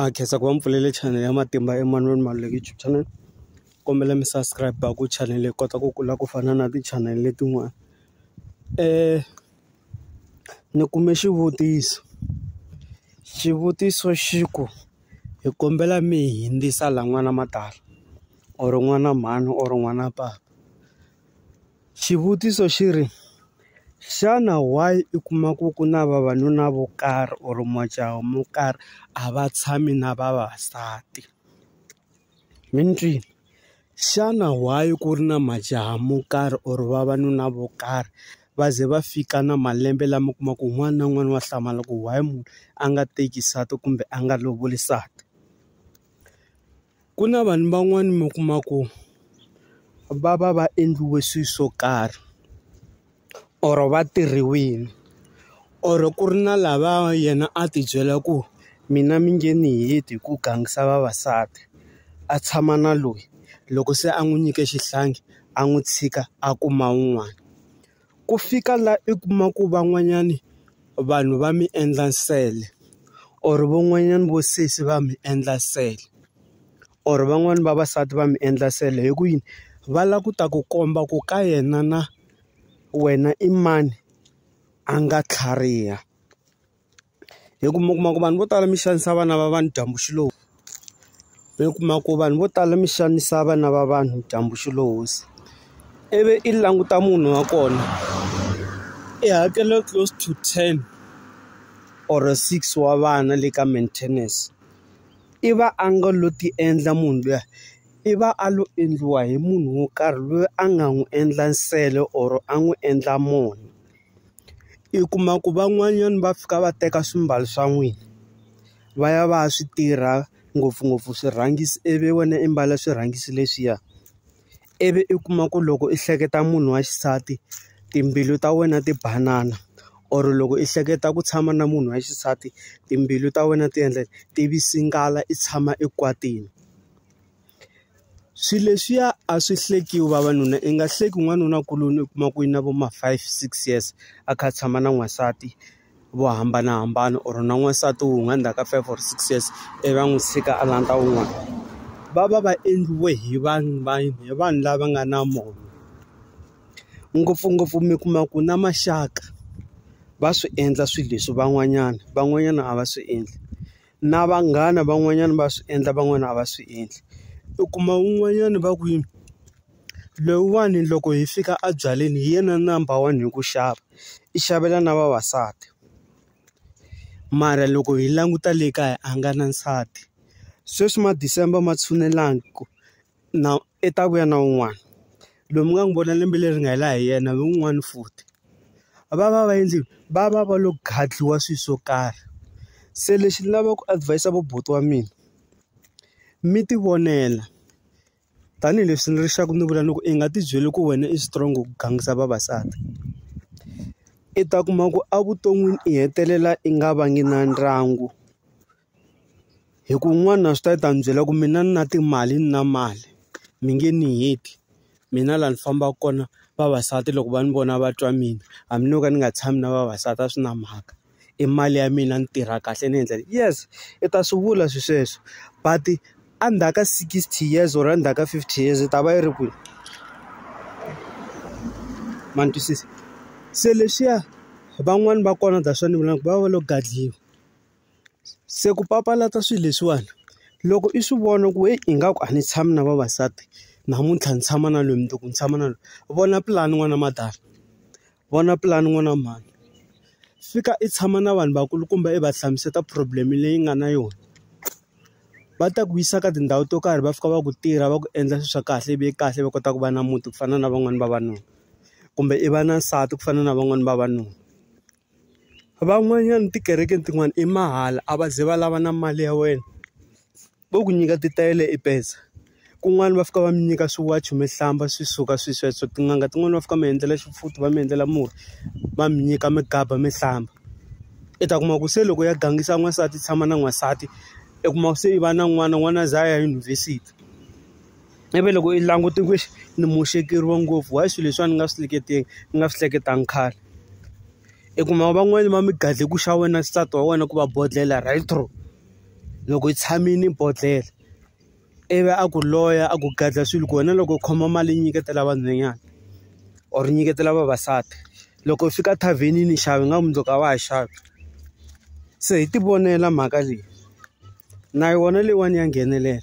a khensa ku va mi pfulele channel ya matimba Emmanuel Maluleke YouTube channel kombela mi subscribe ku channel yi kota ku kula ku fana na ti-channel letin'wana ni kume xivutiso xivutiso xi ku hi kombela mi hi hundzisa laha n'wana matala or n'wana mhani or n'wana papa. Xivutiso xi ri, Xana why u kuma ku ku na vavanuna vo karhi or majaha mo karhi a va tshami na vavasati? Mi ni twile? Xana why ku ri na majaha mo karhi or vavanuna vo karhi va ze va fika na malembe lama u kuma ku un'wana na un'wana wa hlamala ku why munhu a nga teki nsati kumbe a nga lovoli nsati? Ku na vanhu van'wani mi kuma ku va va va endliwe swilo swo karhi or va tirhiwile or ku ri na lava yena a ti byela ku mina mi nge ni heti hi ku gangisa vavasati a tshama na loyi loko se a n'wi nyike xihlangi a n'wi tshika a kuma un'wana. Ku fika la i kuma ku van'wanyani vanhu va mi endla nsele or van'wanyani vo sesi va mi endla nsele or van'wani vavasati va mi endla nsele hi ku yini va la ku ta ku komba ku ka yena na wena i mani a nga tlhariha. Hi ku mi kuma ku vanhu vo tala mi xanisa vana va vanhu dyambu xi lo mi kuma ku vanhu vo tala mi xanisa vana va vanhu dyambu xi lo hosi ivi i languta munhu wa kona i hakela close to ten or six wa vana le ka maintenance i va a nga lo ti endla munhu luya i va a lo endliwa hi munhu wo karhi loyi a nga n'wi endla nsele or a n'wi endla munhu. i kuma ku van'wanyana va fika va teka swimbalo swa n'wina va ya va ya swi tirha ngopfungopfu swirhangisi ivi wena i mbala swirhangisi leswiya ivi i kuma ku loko i hleketa munhu wa xisati timbilu ta wena ti banana or loko i hleketa ku tshama na munhu wa xisati timbilu ta wena ti endla ti tshama ekwatini. Swilo leswiya a swi hlekiwi vavanuna i nga hleki n'wanuna kuloni u kuma ku i na vo ma five six years a kha a tshama na n'wansati vo hambanahambana or na n'wansati wun'we endzhaku ka five or six years ivi va n'wi tshika a landza wun'wana va va va endliwe hi vanhu va hi vanhu lava nga na moya ngopfungopfu mi kuma ku na maxaka va swi endla swilo leswi van'wanyana van'wanyana a va swi endli. na vanghana van'wanyana va swi endla van'wana a va swi endli u kuma un'wanyana va ku yini lowuwani loko hi fika a byaleni hi yena number one hi ku xava i xavela na vavasati mara loko hi languta le kaya a nga na nsati sweswi ma December ma tshunelani ku na i ta vuya na un'wana loyi mi nga n'wi vona lembe leri nga hela hi yena hi un'wana futhi va va va endlini va va va lo gadliwa swilo swo karhi se lexi ni lavaka ku advis-a va buti wa mina mi ti vonela tanihileswi ni ri xa ku ni vula ni ku i nga ti byeli ku wena i strong ku gangisa vavasati i ta kuma ku evuton'wini i hetelela i nga vangi na ndyangu hi ku n'wana swi ta yi ta ni byela ku mina ni na timali ni na mali mi nge ni heti mina laha ni fambaka kona vavasati loko va ni vona va twa mina hambi no ka ni nga tshami na vavasati a swi na mhaka i mali ya mina ni tirha kahle ni endla yes i ta swi vula swilo sweswo but endzhaku ka sixty years or endzhaku ka fifty years yi ta va yi ri kwini ma ni twisisa se leswiya van'wani va kona that's why ni vulaka ku va va lo gadliwa. Se ku papalata swilo leswiwani loko i swi vona ku heyi ingaku a ni tshami na vavasati namuntlha ni tshama na loyi mundzuku ni tshama na loyi vona pulani n'wana madam vona pulani n'wana mhani fika i tshama na vanhu vakulukumba i va hlamuseta problem leyi nga na yona va ta ku yisa ka tindhawu to karhi va fika va ku tirha va ku endla swilo swa kahle ivi kahle va kota ku va na muti ku fana na van'wani vavanuna kumbe i va na nsati ku fana na van'wani vavanuna. Van'wanyana tikereke tin'wana i mahala a va ze va lava na mali ya wena vo ku nyika titayele i pesa kun'wana va fika va mi nyika swiwachi mi hlamba swi suka swi sweswo tin'anga tin'wani va fika mi endlela xipfuti va mi endlela murhi va mi nyika mi gaba mi hlamba i ta kuma ku se loko ya gangisa n'wansati tshama na n'wansati i kuma se i va na n'wana n'wana a za a ya yunivhesiti. i ve loko i langute ku ni muxekeriwa ngopfu why swilo leswiwani ni nga swi hleketeki ni nga swi hleketanga khale i kuma van'wani va mi gadle ku xa wena nsati wa wena ku va bodlhela right through loko hi tshamile bodlhela ivi a ku loya a ku gadla swilo ku wena loko u khoma mali nyiketela vanhwanyana or nyiketela vavasati loko u fika thavhenini xava nga mundzuku a wa ha xavi se hi ti vonela mhaka leyi na yona leyiwani ya nghenelela.